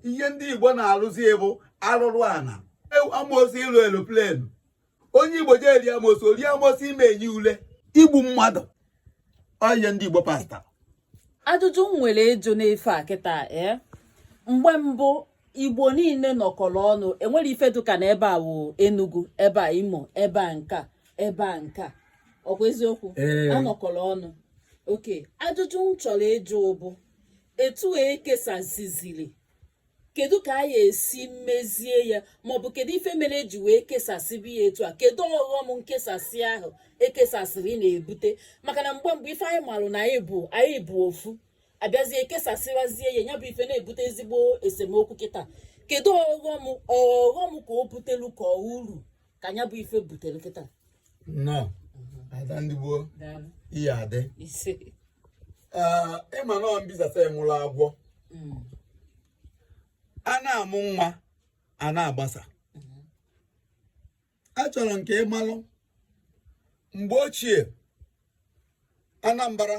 ihe ndị igbo na-alụzi bụ alụrụ ana amosu ịlụ eloplenu onye igbo jee eri amosu ori amosu ime enye ule igbu mmadụ ọhịa ndị igbo pasta ajụjụ m nwere ịjụ n'ife a kịta ee eh? mgbe mbụ igbo niile nọkọrọ ọnụ enwere ife dụka na ebe a wụ enugu ebe a imo ebe a nka ebe a nka ọkwa eziokwu anọkọrọ ọnụ okay ajụjụ m chọrọ ịjụ bụ etu a ekesasiziri kedu ka anyị esi mezie ya maọbụ kedu ife mere eji wee kesasịa ya etu a kedu ọghọm nkesasị ahụ ekesasịrị na-ebute maka na mgbe mgbe ife anyị malụ na anyị bụ anyị bụ ofu abịazie kesasịwazie ya ya bụ ife na-ebute ezigbo esemokwu kịta kedu ọghọm ọghọm ka o butelu ka uru ka nya bụ ife butere kịta nnọọ ada ndị igbo daalụ ihe adị ise Ee, ịma na mbisasa enwụrụ agwọ Mm, a na-amụ nwa a na-agbasa achọrọ nke ịmalụ mgbe ochie anambra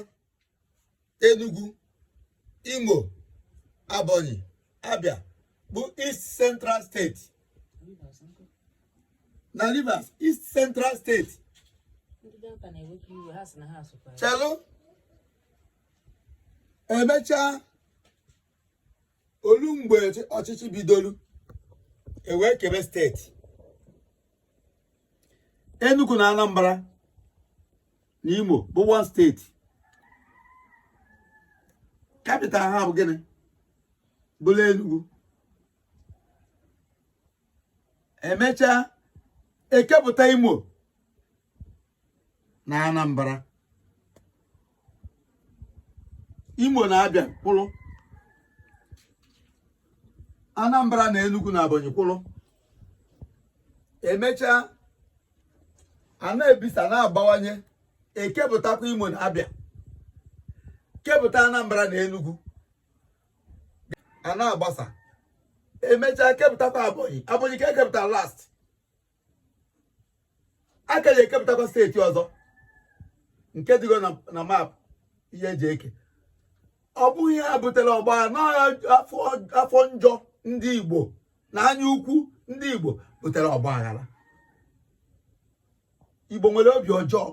Enugu Imo Abonyi Abia bụ East Central State na Rivers East Central State chelụ emechaa olu mgbe ọchịchị bidolu ewee kebe state Enugu na Anambra na Imo bụ one state capital ha bụ gịnị bụlụ Enugu emechaa ekepụta Imo na Anambra Imo na Abịa kwụrụ Anambra na Enugu na Abonyi kwụrụ emechaa a na-ebisa a na-abawanye ekepụtakwa Imo na Abịa kepụta Anambra na Enugu a na-agbasa emechaa kepụtakwa Abonyi Abonyi ka ekepụta last a ka ya ekepụtakwa steeti ọzọ nke dịgo na map ihe eji eke ọ bụghị ya butere ọgba n'afọ njọ ndị Igbo na anya ukwu ndị Igbo butere ọgba aghara Igbo nwere obi ọjọọ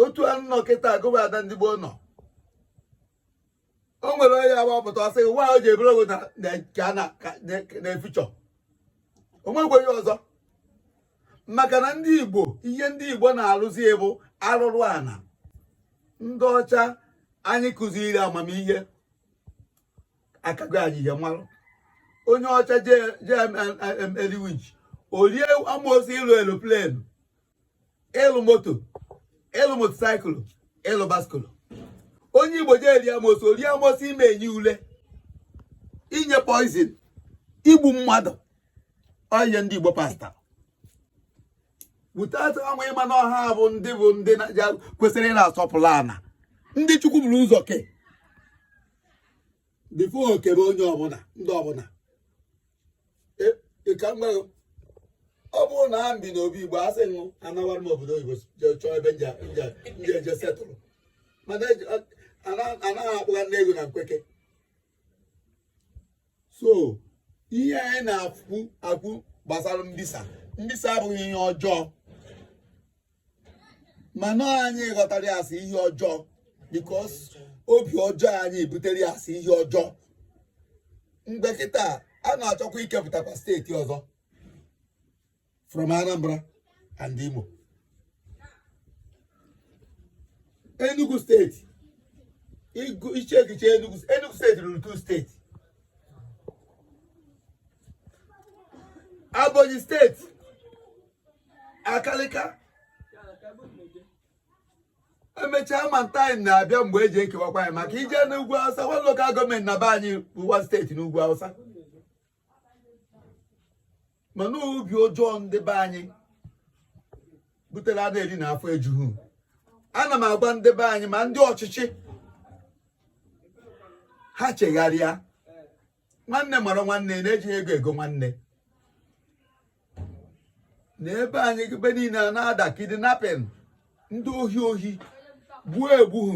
otu a nọ kịta gị bụ ada ndị Igbo nọ o nwere onye agbapụta ọ sị gị nwaanyị o ji ebere ogo na na nke a na- ka- na- na-efichọ o nwekwa onye ọzọ maka na ndị igbo ihe ndị igbo na-arụzi ya bụ arụrụ ana ndị ọcha anyị kụziri amamihe akago anyị ihe mmarụ onye ọcha jee jee em- em- em- eli witch o rie amoosu ịlụ aeroplane ịlụ moto ịlụ motorcycle ịlụ bicycle onye igbo jee rie amosu rie amosu ime enyi ule inye poison igbu mmadụ onye ndị igbo pastor without ama ịma na ọ ha bụ ndị bụ ndị kwesịrị ị na-asọpụrụ ana ndị chukwu buru ụzọ kee before o kebe onye ọbụla ndị ọbụla e, ka m gwa gị ọ bụrụ na m bi na obi igbo asị ṅụ anawara m obodo oyibo jee chọọ ebe m je eje settle mana e anaghị akpụgha ndị ego na nkweke so ihe anyị na-akọ akọ gbasara mbisa mbisa abụghị ihe ọjọọ mana anyị ghọtara ya as ihe ọjọọ because obi ọjọọ anyị butere ya as ihe ọjọọ mgbe kịta a na-achọkwa ikepụtakwa steeti ọzọ from Anambra and Imo Enugu steeti iche echiche Enugu steeti ruru two steeti Ebonyi steeti Abakaliki emechaa ma ntaanyị na-abịa mgbe e ji ekewakwa ya maka i jee n'ugwu awụsa one local government na be anyị bụ one steeti n'ugwu awụsa mana obi ọjọọ ndị be anyị butere a na-eri na afọ ejuhu ana m agwa ndị be anyị ma ndị ọchịchị ha chegharịa nwanne mara nwanne na ejighị ego ego nwanne na be anyị ebe niile a na-ada kidnapping ndị ohi ohi gbuo egbuhu